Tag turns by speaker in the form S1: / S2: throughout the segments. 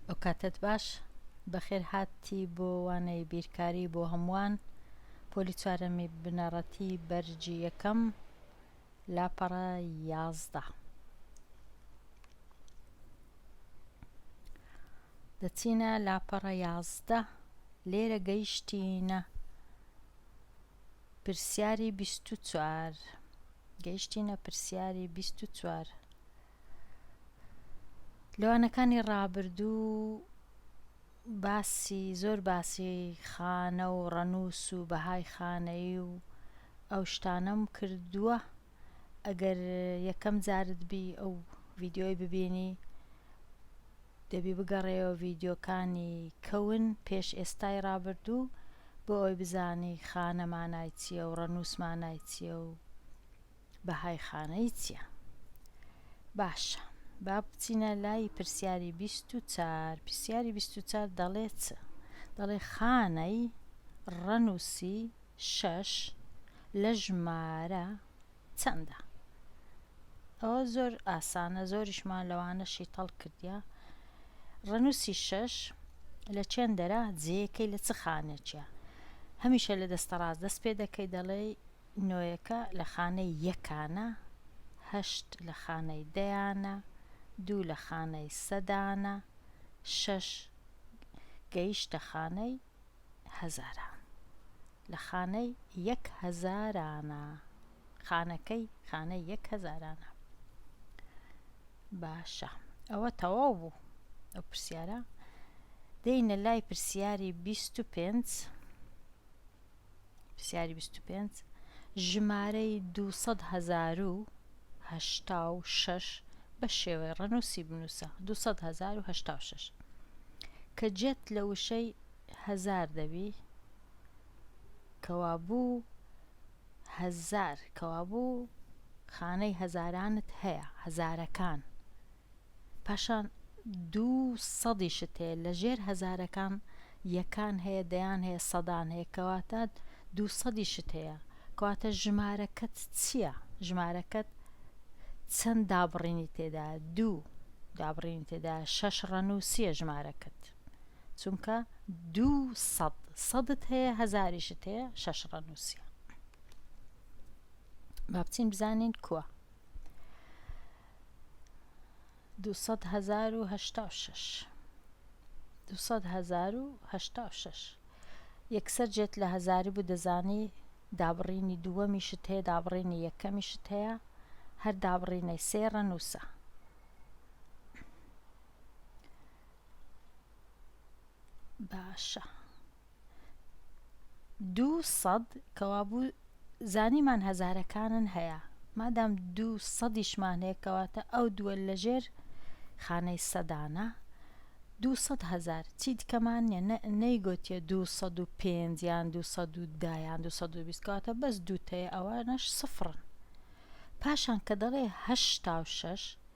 S1: ئەوکاتەت باش بەخێر هاتی بۆ وانەی بیرکاری بۆ هەمووان پۆلی چوارەمی بنەڕەتی بەرجی یەکەم لاپەڕە یازدە دەچینە لاپەڕە یازدە لێرە گەیشتینە پرسیاری بیست و چوار گەیشتینە پرسیاری بیست و چوار لەوانەکانی ڕابردوو باسی زۆر باسی خانە و ڕەنووس و بەهای خانەیی و ئەو شتانەم کردووە ئەگەر یەکەم جارت بی ئەو ڤیدیۆی ببینی دەبی بگەڕێەوە ڤیدیۆکانی کەون پێش ئێستای ڕابردوو بۆ ئەوی بزانی خانە مانای چییە و ڕەنووس مانای چییە و بەهای خانەی چییە باشە با بچینە لای پرسیاری بیست و چار پرسیاری بیست و چار دەڵێ چ دەڵێ خانەی ڕەنووسی شەش لە ژمارە چەندە؟ ئەوە زۆر ئاسانە زۆریشمان لەوانە شیتەڵ کردە ڕەنووسی شەش لە چێن دەرا جێەکەی لە چ خانێکە هەمیشە لە دەستە ڕاست دەست پێ دەکەی دەڵێ نۆیەکە لە خانەی یەکانە هەشت لە خانەی دەیانە دوو لە خانەی سەدانە شەش گەیشتە خانەی هەزاران. لە خانەی یەک هەزارانە. خانەکەی خانەی یەک هەزارانە. باشە ئەوە تەواو بوو ئەو پرسیارە دێینە لای پرسیاری بیست و پێنج پرسیاری بیست و پێنج، ژمارەی دوو سەد هەزار و هەشتا و شەش بە شێوەی ڕەنووسی بنووسە، دوو سەد هەزار و هەشتا و شەش. کە جێت لە وشەی هەزار دەبی، کەوابوو هەزار، کەوابوو خانەی هەزارانت هەیە، هەزارەکان، پاشان دوو سەدیشت هەیە لە ژێر هەزارەکان یەکان هەیە دەیان هەیە سەدان هەیە کەواتە دوو سەدیشت هەیە کەواتە ژمارەکەت چییە ژمارەکەت چەند دابڕینی تێدا دوو دابڕینی تێدا شەش ڕەنووسیە ژمارەکەت چونکە دوو سەد سەدت هەیە هەزاریشت هەیە شەش ڕەنووسە با بچین بزانین کووە دوو سەد هەزار و هەشتا و شەش دوو سەد هەزار و هەشتا و شەش یەکسەر جێت لە هەزاری بوو دەزانی دابڕینی دووەمیشت هەیە دابڕینی یەکەمیشت هەیە هەر دابڕینەی سێڕە نووسە باشە دوو سەد کەوابوو زانیمان هەزارەکانن هەیە مادام دوو سەدیشمان هەیە کەواتە ئەو دووە لەژێر خانەی سەدانە دوو سەد هەزار چی دکەمان نیە نەیگوتیە دوو سەد و پێنج یان دوو سەد و دا یان دوو سەد و بیست کەواتە بەس دووتەیە ئەوانەش سفڕن پاشان کە دەڵێ هەشتا و شەش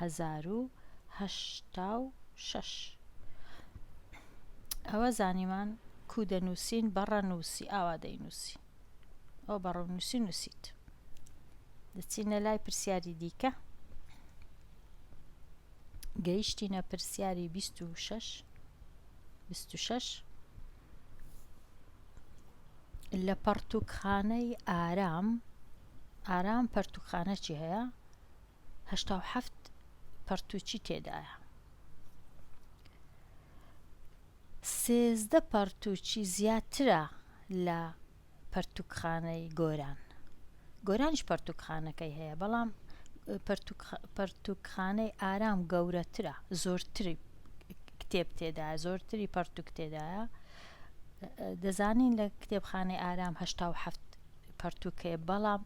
S1: هەزار و هەشتا و شەش ئەوە زانیمان کو دەنووسین بە ڕەنووسی ئاوا دەینووسی ئەو بە ڕەنووسی نووسیت دەچینە لای پرسیاری دیکە گەیشتینە پرسیاری 26 26 لە پەڕتوکخانەی ئارام ئارام پەرتوکخانەچی هەیە هەشتا و حەفت پەڕتووکی تێدایە. سێزدە پەڕتووکی زیاترە لە پەرتووکخانەی گۆران. گۆرانیش پەرتووکخانەکەی هەیە، بەڵام پەرتووکخانەی ئارام گەورەترە، زۆرتری کتێب تێدا زۆرتری پەرتوک تێدایە دەزانین لە کتێبخانەی ئارام هەشتا و هەفت پەرتووکەیە بەڵام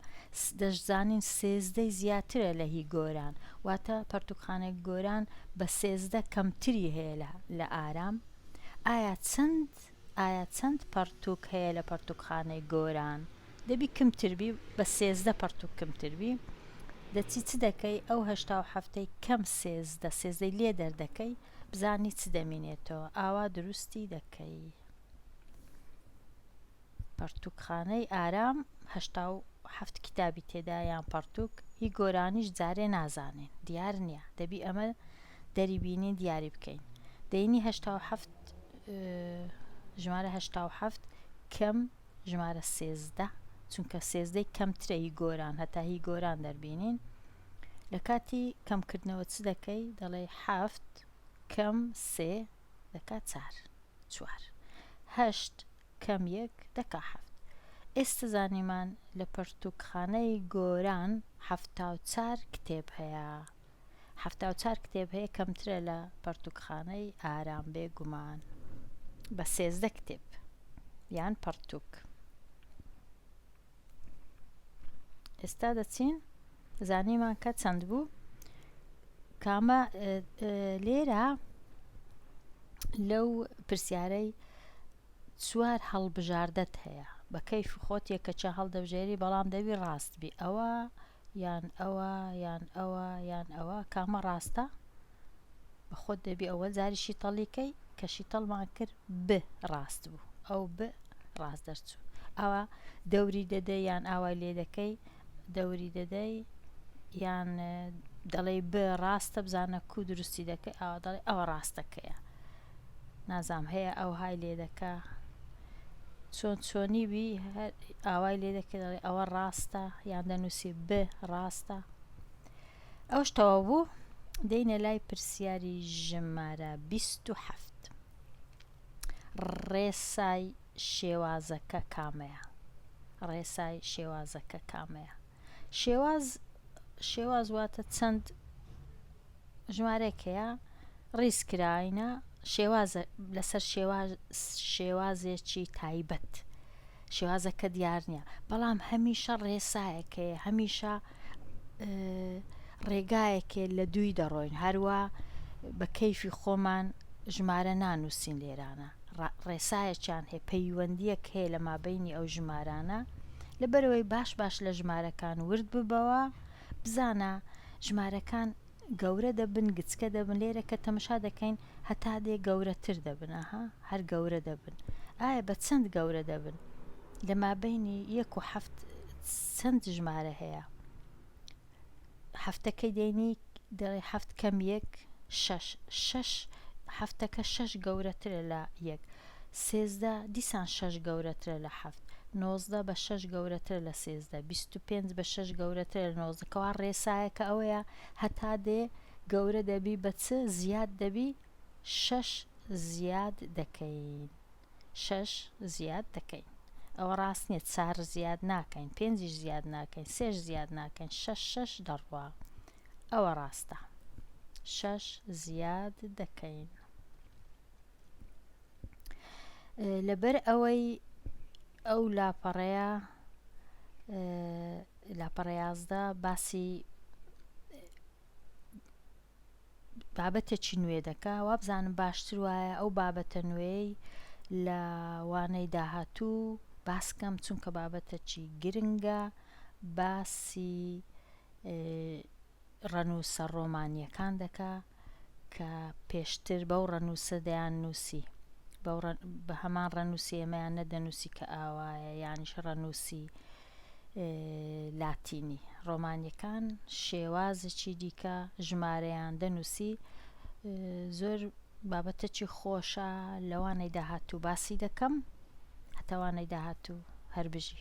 S1: دەشزانین سێزدەی زیاترە لە هی گۆران واتە پەرتووکخانەی گۆران بە سێزدە کەمتری هەیە لە ئارام ئایا چەند ئایا چەند پەرتووک هەیە لە پەرتووکخانەی گۆران دەبی کمتربی بە سێزدە پەرتووک کمتربی دەچی چ دەکەی ئەو هەشتا و هەفتەی کەم سێزدە سێزدەی لێ دەردەکەی بزانی چ دەمینێتەوە ئاوا دروستی دەکەی پەڕتووکخانەی ئارام هەشتا و حەفت کیتابی تێدایە یان پەڕتووک هی گۆرانیش جارێ نازانین دیار نییە دەبی ئەمە دەری بینین دیاری بکەین دەینی هەشتا و حەفت ژمارە هەشتا و حەفت کەم ژمارە سێزدە چونکە سێزدەی کەمترە هی گۆران هەتا هی گۆران دەربینین لە کاتی کەمکردنەوە چ دەکەی دەڵێ حەفت کەم سێ دەکات چار چوار هەشت کەم یەک دەکا حەفت. ئێستە زانیمان لە پەرتووکخانەی گۆران حەفتا و چار کتێب هەیە. حەفتا و چار کتێب هەیە کەمترە لە پەرتووکخانەی ئارام بێ گومان بە سێزدە کتێب یان پەڕتووک. ئێستا دەچین زانیمان کە چەند بوو کامە لێرە لەو پرسیارەی چوار هەڵبژاردەت هەیە بە کەیف خۆت یەکەچە هەڵدەبژێری بەڵام دەوی ڕاست بی ئەوە یان ئەوە یان ئەوە یان ئەوە کامە ڕاستە بە خۆت دەبی ئەوە جاری شیتەڵیکەی کە شیتەڵمان کرد ب ڕاست بوو ئەو ب ڕاست دەرچوو ئەوە دەوری دەدەی یان ئاوای لێ دەکەی دەوری دەدەی یان دەڵێ ب ڕاستە بزانە کو دروستی دەکەی ئەوە دەڵێ ئەوە ڕاستەکەیە نازام هەیە ئەوهای لێدەکا چۆن چۆنی بی هەر ئاوای لێدەکە دەڵێ ئەوە ڕاستە یان دەنووسی ب ڕاستە ئەوش تەواو بوو دەینە لای پرسیاری ژمارە 27 ڕێسای شێوازەکە کامەیە ڕێسای شێوازەکە کامەیە شێواز شێواز واتە چەند ژمارەیەک هەیە ڕیز کراینە شێوازە لەسەر شێواز شێوازێکی تایبەت شێوازەکە دیار نییە بەڵام هەمیشە ڕێسایەکەیە هەمیشە ڕێگایەکێ لە دووی دەڕۆین هەروە بە کەیفی خۆمان ژمارە نانووسین لێرانە ڕێسایەکیان هەیە پەیوەندیەک هەیە لە مابینی ئەو ژمارانە لەبەرەوەی باش باش لە ژمارەکان ورد ببەوە بزانە، ژمارەکان گەورە دەبن گچکە دەبن لێرە کە تەمشا دەکەین هەتا دێ گەورە تر دەبن ئاها هەر گەورە دەبن ئایا بە چەند گەورە دەبن لە مابەینی یەک و حەفت چەند ژمارە هەیە حەفتەکەی دێنی دەڵێ حەفت کەم یەک شەش شەش حەفتەکە شەش گەورەترە لە یەک سێزدە، دیسان شەش گەورەترە لە حەفت. نۆزدە، بە شەش گەورەترە لە سێزدە. بیست و پێنج، بە شەش گەورەترە لە نۆزدە. کەوا ڕێسایەکە ئەوەیە، هەتا دێ گەورە دەبی بە چ زیاد دەبی؟ شەش زیاد دەکەین. شەش زیاد دەکەین. ئەوە ڕاست نییە، چار زیاد ناکەین، پێنجیش زیاد ناکەین، سێش زیاد ناکەین، شەش شەش دەڕوا. ئەوە ڕاستە. شەش زیاد دەکەین. لەبەر ئەوەی ئەو لاپەڕەیە لاپەڕە یازدە باسی بابەتێکی نوێ دەکا وابزانم باشتر وایە ئەو بابەتە نوێی لە وانەی داهاتوو باسکەم چونکە بابەتەکی گرنگە باسی ڕەنووسە ڕۆمانییەکان دەکا کە پێشتر بەو ڕەنووسە دەیان نووسی، بەو ڕە بە هەمان ڕەنووسی ئێمەیان نەدەنووسی کە ئاوایە، یانیش ڕەنووسی لاتینی. ڕۆمانییەکان شێوازێکی دیکە ژمارەیان دەنووسی، زۆر بابەتەکی خۆشە، لەوانەی داهاتوو باسی دەکەم، هەتا وانەی داهاتوو، هەر بژی.